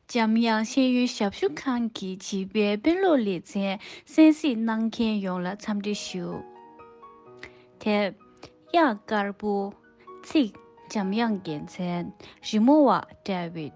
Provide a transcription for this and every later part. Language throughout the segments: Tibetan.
འཇམ་དབྱངས་ཤེས་ཡོན་ཞབས་ཞུ་ཁང་གི་བྱིས་པའི་དཔེ་ཀློག་ལེ་ཚན་གསན་གཟིགས་གནང་མཁན་ཡོངས་ལ་འཚམས་འདྲི་ཞུ། དེབ། དབྱངས་དཀར་པོ། ཚིག། འཇམ་དབྱངས་རྒྱལ་མཚན། རི་མོ་བ། བཀྲ་བྷེ།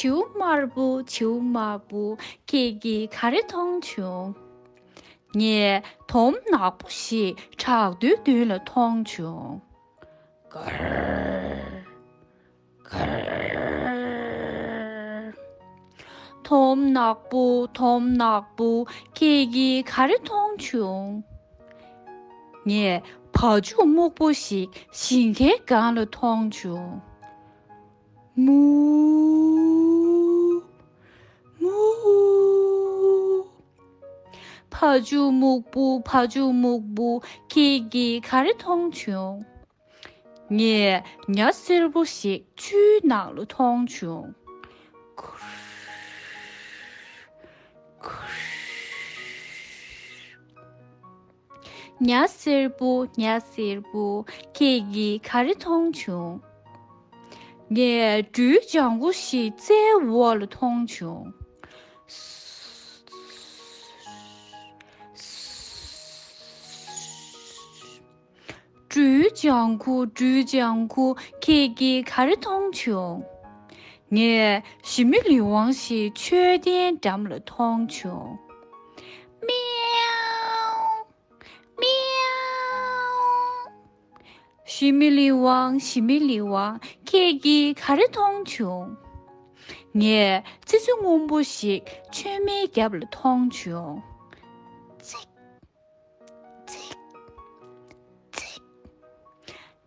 བྱིའུ་དམར་པོ་བྱིའུ་དམར་པོ་ཁྱེད་ཀྱིས་ག་རེ་མཐོང་བྱུང། ངས་དོམ་ནག་པོ་ཞིག་བྲག་རྡོའི་མདུན་ལ་མཐོང་བྱུང། དོམ་ནག་པོ་དོམ་ནག་པོ་ཁྱེད་ཀྱིས་ག་རེ་མཐོང་བྱུང། ངས་བ་ཕྱུགས་སྨུག་པོ་ཞིག་ཞིང་ཁའི་སྒང་ལ་མཐོང་བྱུང། ཕ་ཇོ་སྨུག་པོ་ཕ་ཇོ་སྨུག་པོ་ཁྱེད་ཀྱིས་ག་རེ་མཐོང་བྱུང། ངས་ཉྭ་སེར་པོ་ཞིག་ཆུའི་ནང་ལོ་མཐོང་བྱུང། ཉྭ་སེར་པོ་ཉྭ་སེར་པོ་ཁྱེད་ཀྱིས་ག་རེ་མཐོང་བྱུང། ངས་སྦྲུལ་ལྗང་གུ་ཞིག་རྩྭའི་འོག་ལ་མཐོང་བྱུང། སྤྲུལ་ལྗང་ཁུ་སྤྲུལ་ལྗང་ཁུ་ཁྱེད་ཀྱིས་ག་རེ་མཐོང་བྱུང། ངས་ཞི་མི་ལི་ཝང་ཞིག་མཆོད་རྟེན་འགྲམ་ལ་མཐོང་བྱུང། མེའོ། མེའོ། ཞི་མི་ལི་ཝང་ཞི་མི་ལི་ཝང་ཁྱེད་ཀྱིས་ག་རེ་མཐོང་བྱུང། ངས་ཙི་ཙི་སྔོན་པོ་ཞིག་མཆོད་མེའི་རྒྱབ་ལ་མཐོང་བྱུང། ཚིག།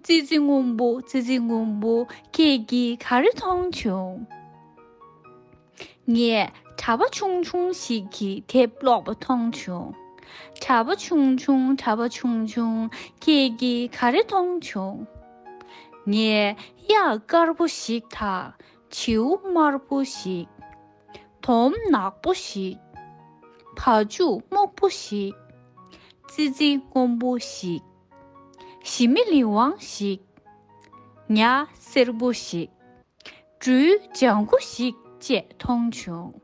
ཙི་ཙི་སྔོན་པོ་ཙི་ཙི་སྔོན་པོ་ཁྱེད་ཀྱིས་ག་རེ་མཐོང་བྱུང། ངས་གྲྭ་པ་ཆུང་ཆུང་ཞིག་གི་དེབ་ཀློག་པ་མཐོང་བྱུང། གྲྭ་པ་ཆུང་ཆུང་གྲྭ་པ་ཆུང་ཆུང་ཁྱེད་ཀྱིས་ག་རེ་མཐོང་བྱུང། ངས་གཡག་དཀར་པོ་ཞིག་དང་བྱིའུ་དམར་པོ་ཞིག། དོམ་ནག་པོ་ཞིག། ཕ་ཕྱུགས་སྨུག་པོ་ཞིག། ཙི་ཙི་སྔོན་པོ་ཞིག། ཞི་མི་ལི་ཝང་ཞིག། ཉྭ་སེར་པོ་ཞིག། སྦྲུལ་ལྗང་ཁུ་ཞིག་བཅས་མཐོང་བྱུང།